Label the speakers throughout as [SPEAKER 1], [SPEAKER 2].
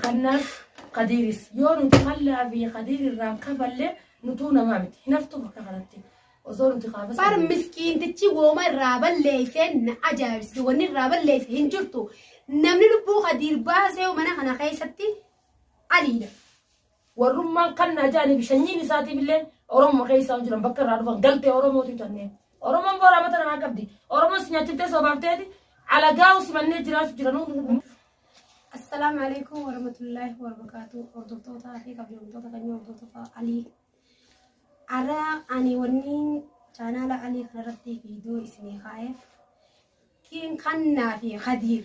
[SPEAKER 1] Kanaaf Kadiiris yoo nuti kallaa fi Kadiir irraan kafalle nutuu namaa miti. Hinaftuu bakka kanatti osoo nuti kaafas. Bar miskiintichi
[SPEAKER 2] wooma irraa balleesseen na ajaa'ibsiise. Wanni irraa balleesse hin jirtu. Namni lubbuu Kadiir baasee mana kana keessatti aliidha.
[SPEAKER 1] Warrummaan kannaa jaaniif shanyiin isaatiif illee Oromoo keessaa jiran bakka irraa dhufan galtee Oromootu tannee. Oromoon booraa mata namaa qabdi. Oromoon si nyaachiftee soobaafteeti alagaa'u simannee jiraatu jiranuu. Assalaamu
[SPEAKER 2] alaikum warahmatullahi wabarakatuh. Hordoftootaa fi kabajamtoota kan hordoftota Alii. Ara ani wanni chaanaala Alii kanarratti viidiyoo isinii kaa'eef kiin kannaa fi Khadiir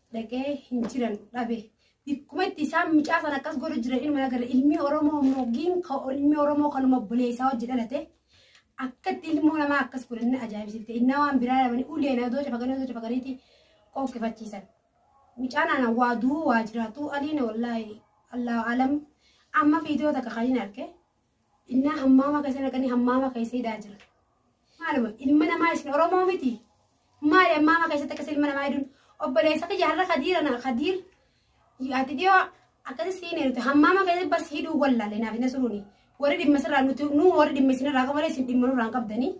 [SPEAKER 2] dhaga'ee hin jiran dhabe. Bikkuma itti isaan mucaa sana akkas godhu jiran ilma agarra ilmi Oromoo immoo giinka ilmi Oromoo kanuma buleessaa hojii dhalate akkatti ilmoo namaa akkas godhanne ajaa'ibsiifte innaa waan biraa dhabanii uleen adoo cafaqanii adoo cafaqaniiti qoqqefachiisan. Mucaan ana waa du'uu waa jiraatu aliina wallaahi allahu alam amma fiidiyoo takka kan hin arge Innaa hammaama keessa naqanii hammaama keessa hidhaa jira. Maaluma ilma namaa isin Oromoo miti. Maali hammaama keessatti akkas ilma namaa hidhuun obboleessa kiyya har'a kadiira na kadiir ati dhiyoo akkasi siin eeruti hammaama keessatti bas hidhuu wallaale naaf hin asuruuni. Warri dhimma sirraa nuti nuu warri dhimma isinirraa qabalee isin dhimma nurraa hin qabdanii.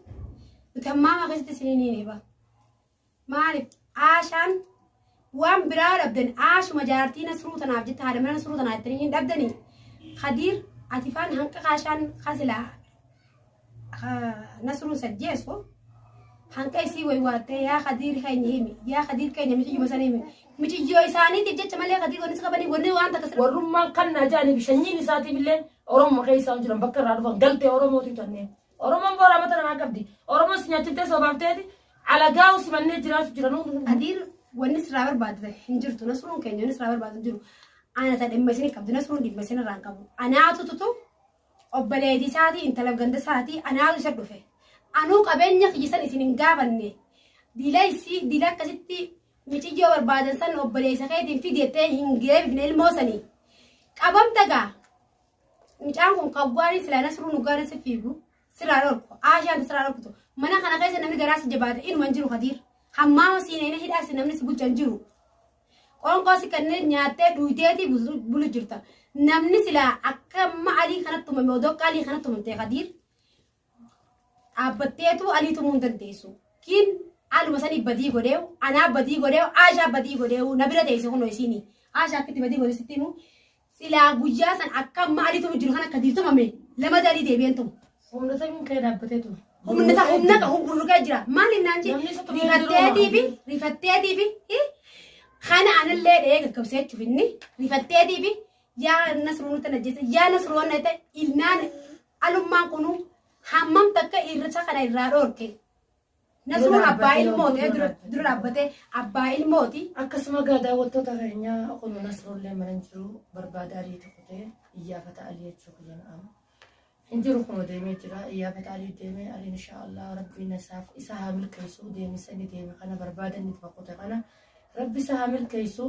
[SPEAKER 2] Nuti hammaama keessatti isin hin hiine ba. Maalif Aashaan waan biraa dhabdan Aashuma jaartii Nasruu tanaaf jette haadha mana Nasruu tanaa jettanii hin dhabdanii Kadiir ati faan hanqa kaashaan kasilaa Nasruu sajjeessu hanqa isii waywaattee yaa Kadiir keenya himi yaa Kadiir keenya miciyyuma sana himi miciyyoo isaaniitiif jecha malee Kadiir wanni si qabanii wanni waan takka sirra warrummaan kan naa jaaniif
[SPEAKER 1] shanyiin isaatiif illee Oromoo keessa jiran bakka irraa dhufan galtee Oromootu tanneen. Oromoon booraa mata namaa qabdi. Oromoon si nyaachiftee soobaafteeti alagaa usimannee jiraatu jira nuu hunduu. Adiin wanni
[SPEAKER 2] sirraa barbaadde hin jirtu nasruun keenya wanni sirraa barbaadde hin jiru. Ana ta dhimma isin qabdu nasruun dhimma isin irraa hin qabu. Anaatu tutu obboleetii isaatii intala ganda isaatii anaatu isa dhufe. Anuu qabeenya kiyya san isin hin gaafanne. Dila isii dila akkasitti miciyyoo barbaadan san obboleessa keetiin fideettee hin geebifne ilmoo sanii. Qabamta gaa Mucaan kun kawwaanii silaa nasruu nugaana si fiigu siraa dhorku aashaan siraa dhorkutu mana kana keessa namni garaa si jabaate inuma hin jiru kadiir hammaama siinee hidhaa si namni si bulchan jiru qoonqoo si kannee nyaattee duuteetii bulu jirta namni silaa akka amma alii kanatti tumame odoo qaalii kanatti tumamtee kadiir dhaabbatteetu alii tumuu hin dandeessu. Kiin aluma sanii badii godheewu, anaa badii godheewu, aashaa badii godheewu na bira teessi kunoo isiini. Aashaa akkitti badii godhe sitti himu. Silaa guyyaa san akka amma alii tumu jiru kan akka diir tumame lama alii deebi'een tumu. Humna samiin kee
[SPEAKER 1] dhaabbatee ture. Humna ta humna
[SPEAKER 2] ka humna jira. Maal innaan jee Namni isa tumee jiru rifatteetii fi maali? rifatteetii fi hi? kana anallee dhee gaggabsee jechuuf inni rifatteetii fi yaa nasruu nutti najjeessa yaa nasruu wanna ta'e ilnaan alummaan kunu hammam takka irrisa kana irraa dhoorke nasruun abbaa ilmooti eh, dura dura dhaabbatee abbaa ilmooti Akkasuma egaa daawwattoota
[SPEAKER 1] keenyaa kun nasrollee mana hin jiru barbaada ariitu kutee iyyaafata alii jechuu kiyyan amma. hin jiru kunoo deemee jira iyyaafata alii deemee aliin inshaa allah rabbiin isaaf isa haa milkeessu deemisa inni deeme kana barbaada inni itti kute kana rabbi isa haa milkeessu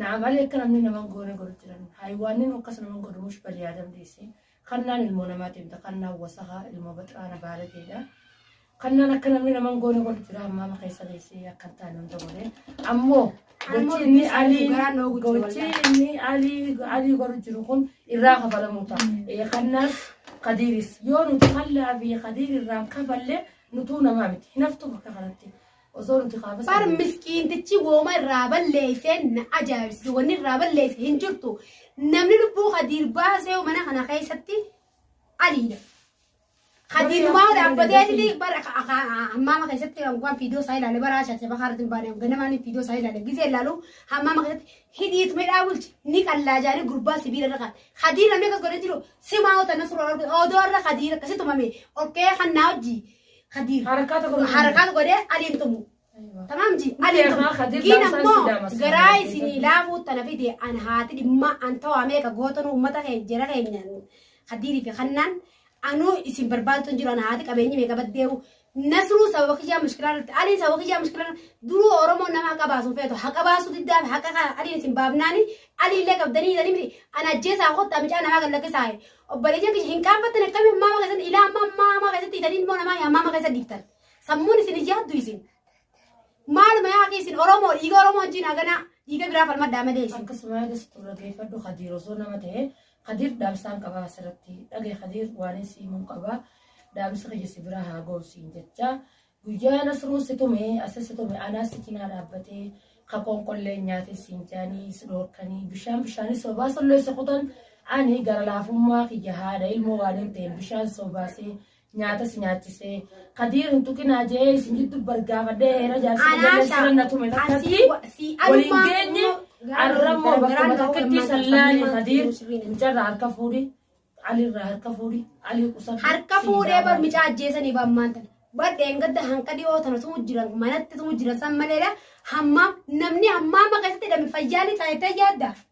[SPEAKER 1] naam alii akka namni naman goone godhu jiran haayiwaannin akkas naman godhu mush bali yaadam dhiisi kannaan ilmoo namaa deemta kannaan wasaha ilmoo baxiraana baalageedha Kannaan akka namni naman goone wal jira ammaa ma keessa geessee akka hin taane hunda godhe. Ammoo Ammoo gochi inni dubbii isaanii alii dhugaa loogu jiru gochi wallaahi. inni alii alii godhu jiru kun irraa kafalamuu ta'a. Eh, Kannaas kadiiris yoo nuti kallaa fi kadiir irraan kafalle nutuu namaa miti. Hinaftu bakka kanatti osoo nuti kaafas.
[SPEAKER 2] Bar miskiintichi wooma irraa balleesseen na ajaa'ibsiise. Wanni irraa balleesse hin jirtu. Namni lubbuu kadiir baasee mana kana keessatti aliidha. Kadiinumaa dhaabbatee inni bara hammaama keessatti waan fiidoo isaa ilaale bara shaashe bakaa irratti hin baane ganamaan fiidoo isaa ilaale gisee ilaalu hammaama keessatti hidhiit midhaa bulchi ni qallaa jaanii gurbaa sibiila irra kaa'e. Kadiin namni akkas godhee jiru simaa hota na suuraa argu odoo irra kadiin akkasi tumame okkee kan naa hojji kadiin Harakaa tokko harakaa godhee aliin tumu Tamaam ji Mali Mali haa Khadir Kiin laamsaan ammoo si daamasa. garaa isinii laafuu tana fide an haati dhimma an tawaa meeqa gootanu uummata keenya jara keenya Khadirii fi Hannaan anuu isin barbaadatu hin jiru an haati qabeenyi meeqa baddeewu nasruu sababa kiyyaa mushkilaa irratti aliin sababa kiyyaa mushkilaa irratti duruu oromoo nama haqa baasuu feetu haqa baasuu diddaa fi haqa kana aliin isin baafnaani aliillee qabdanii jedhanii miti an ajjeesaa kottaa micaa namaa kan lakkisaa obboleeyyan kiyya hin qaanfattan akkamii ammaa keessatti ilaa ammaa ammaa ammaa keessatti itanii ilmoo namaa ammaa ammaa keessatti dhiiftan. Sammuun isin hin yaaddu isin. Maaluma yaa kee isin Oromoo dhiiga Oromoo wajjin haganaa dhiiga biraa falmadhaa malee isin. Akkasuma yaada sitti
[SPEAKER 1] dhaggeeffadhu Kadiir osoo nama ta'e Kadiir dhaamsaan qabaa asirratti dhagee Kadiir waan si himuun qabaa dhaamsi kiyya si biraa haa ga'u siin jecha guyyaa nasruu si tume asa si tume anaa si cinaa dhaabbatee kakoon qollee nyaatee siin jaanii si dhoorkanii bishaan bishaanii sobaa sollee si kutan ani gara laafummaa kiyya haadha ilmoo waan hin ta'een bishaan sobaasee nyaata si nyaachisee kadiir hin tuqinaa jee isin jiddu bargaafadhee heera jaarsa Anaa jallee shaa- sirna tume asii takkatti wa- si waliin alumaa geenye immoo gara- arrammoo gara- bakkuma gara- takkatti gara- sallaani gara- kadiir gara- mucarraa harka fuudhi alirraa harka fuudhi alii qusadhu harka siin fuudhee bar gaafadhu.
[SPEAKER 2] micaa ajjeesanii baan maanta bar dheengadda hanqa dhiyoo tana tumu jiran manatti tumu jiran san maleedha hammaam namni hammaama keessatti hidhame fayyaa ni taa'ettee yaadda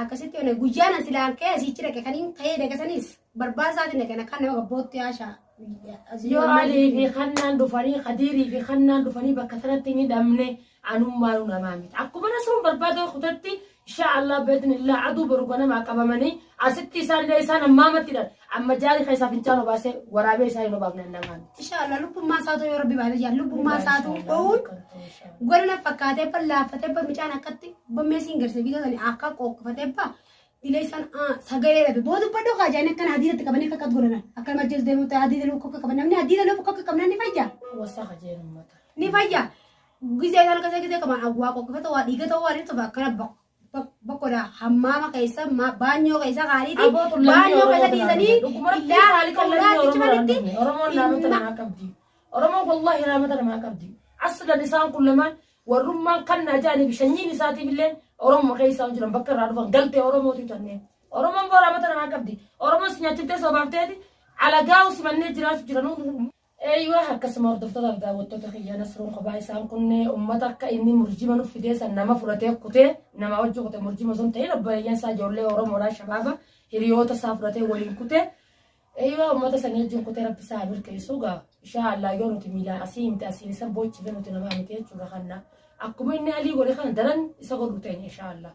[SPEAKER 2] Akkasitti olee guyyaan as ilaa kee asiichi dhaqe kan hin ka'ee dhaqe sanis barbaasaatiin dhaqe na kan nama gabbootti haashaa. Yoo
[SPEAKER 1] Alii fi Hannaan dhufanii Kadiirii fi Hannaan dhufanii bakka sanatti hin hidhamne anummaanu namaa miti. Akkuma rasuun barbaada kutatti insha Allah beeknillah aduu boru ganamaa qabamanii asitti isaan illee isaan ammaamatti dhan. Amma jaari keessaa fincaan obaasee waraabee isaa hin obaafne namaan. Inshallah lubbummaa isaa ta'uu
[SPEAKER 2] yoo rabbi baate jaan lubbummaa isaa ta'uu dhowuun gara na fakkaatee ban laaffatee ban mucaan akkatti ban meesiin garsa biitoo sani akka qoqqofatee ba dilee san sagalee dhabe booda badhoo kaa jaanii akkana hadiidatti qabanii akka akkatti godhanan akka nama jees deemuu ta'e hadiida lukkuu akka qaban namni hadiida lukkuu akka qabnan ni fayya Wasaa hajeen
[SPEAKER 1] uummata. ni fayya
[SPEAKER 2] gizee kana kasa gizee qaban awwaa qoqqofata waa dhiigata waa dhibsa akkana ba Bakkoodha hammaama keessa ma- baanyoo keessa kaaniiti Aboo kun lammii baanyoo Oromoo keessa tanaa dhiisanii dhukkuma rabbii illaa haali kan lammii Oromoo tanaa cimanitti dhufne. Oromoon laamata dhimma-
[SPEAKER 1] namaa qabdi. Oromoon wallaahi laamata namaa qabdi. Aslan isaan kun lamaan warrummaan kan na ajaa'anii fi sanyiin isaatiif illee Oromoo keessaa hin jiran bakka irraa dhufan galtee Oromootu tanneen. Oromoon boo laamata namaa qabdi. Oromoon si nyaachiftee soobaafteeti alagaa simannee jiraachuu jiran. Eeyywa akkasuma hordoftoota fi daawwattoota kiyya Nasruun kophaa isaan kun ummata akka inni murjima nuuf fidee san nama fudhatee kutee namaa wajjin kute murjima osoo hin ta'in obboleeyyan isaa ijoollee Oromoodhaa shabaaba hiriyoota isaa fudhatee waliin kute eeyywa ummata sanii wajjin kutee rabbi isaa haa milkeessu gaa ishaa allaa yoo nuti miilaa asii himte asiin isa boochife nuti namaa miti jechuudha kanna akkuma inni alii godhe kana daran isa godhu teenya ishaa allaa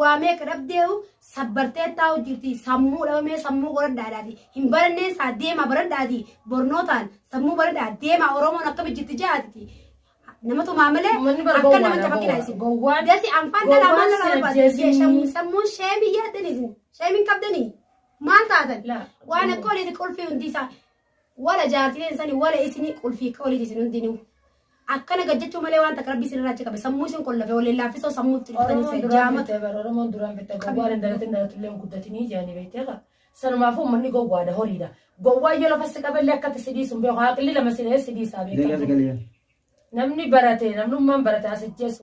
[SPEAKER 2] waa meeqa dhabdeehu sabbartee taa'u jirti sammuu dhabamee sammuu qoradhaadhaati hin barannee isaa deemaa baradhaati bornootaan sammuu baradhaa deemaa oromoon akkami jirti jaatiti nama tumaa malee Uummanni bara akka nama gowwaadha, cafaqina isin gowwaa. dati anfaan Gowwaa dhalaa maal si dhalaa barbaadu ajjeesanii. sammuun sammuun sheemii yaaddan isin sheemiin qabdanii maal taatan La- waan akka oliiti qulfii hundi isaa wala jaartileen sani wala isini qulfii qoliti isin hundinuu akkana gajjachuu malee waan takka rabbi isin irraa achi qabe sammuu isin qollafe waliin laaffisoo sammuu itti dhuftanii Oromoon isa duraan jaamatu bitte bara Oromoon duraan bitte
[SPEAKER 1] gowwaan hin dalatin dalatullee hin guddatinii jedhanii beektee qaba. Sanumaafuu uummanni gowwaadha horiidha. Gowwaan yoo lafa si qabellee akkatti si dhiisu hin beeku. Haaqilli lama si dhahee si dhiisaa Deegaa beekamtu. sagalee. Namni barate namnummaan barate as ijjeessu.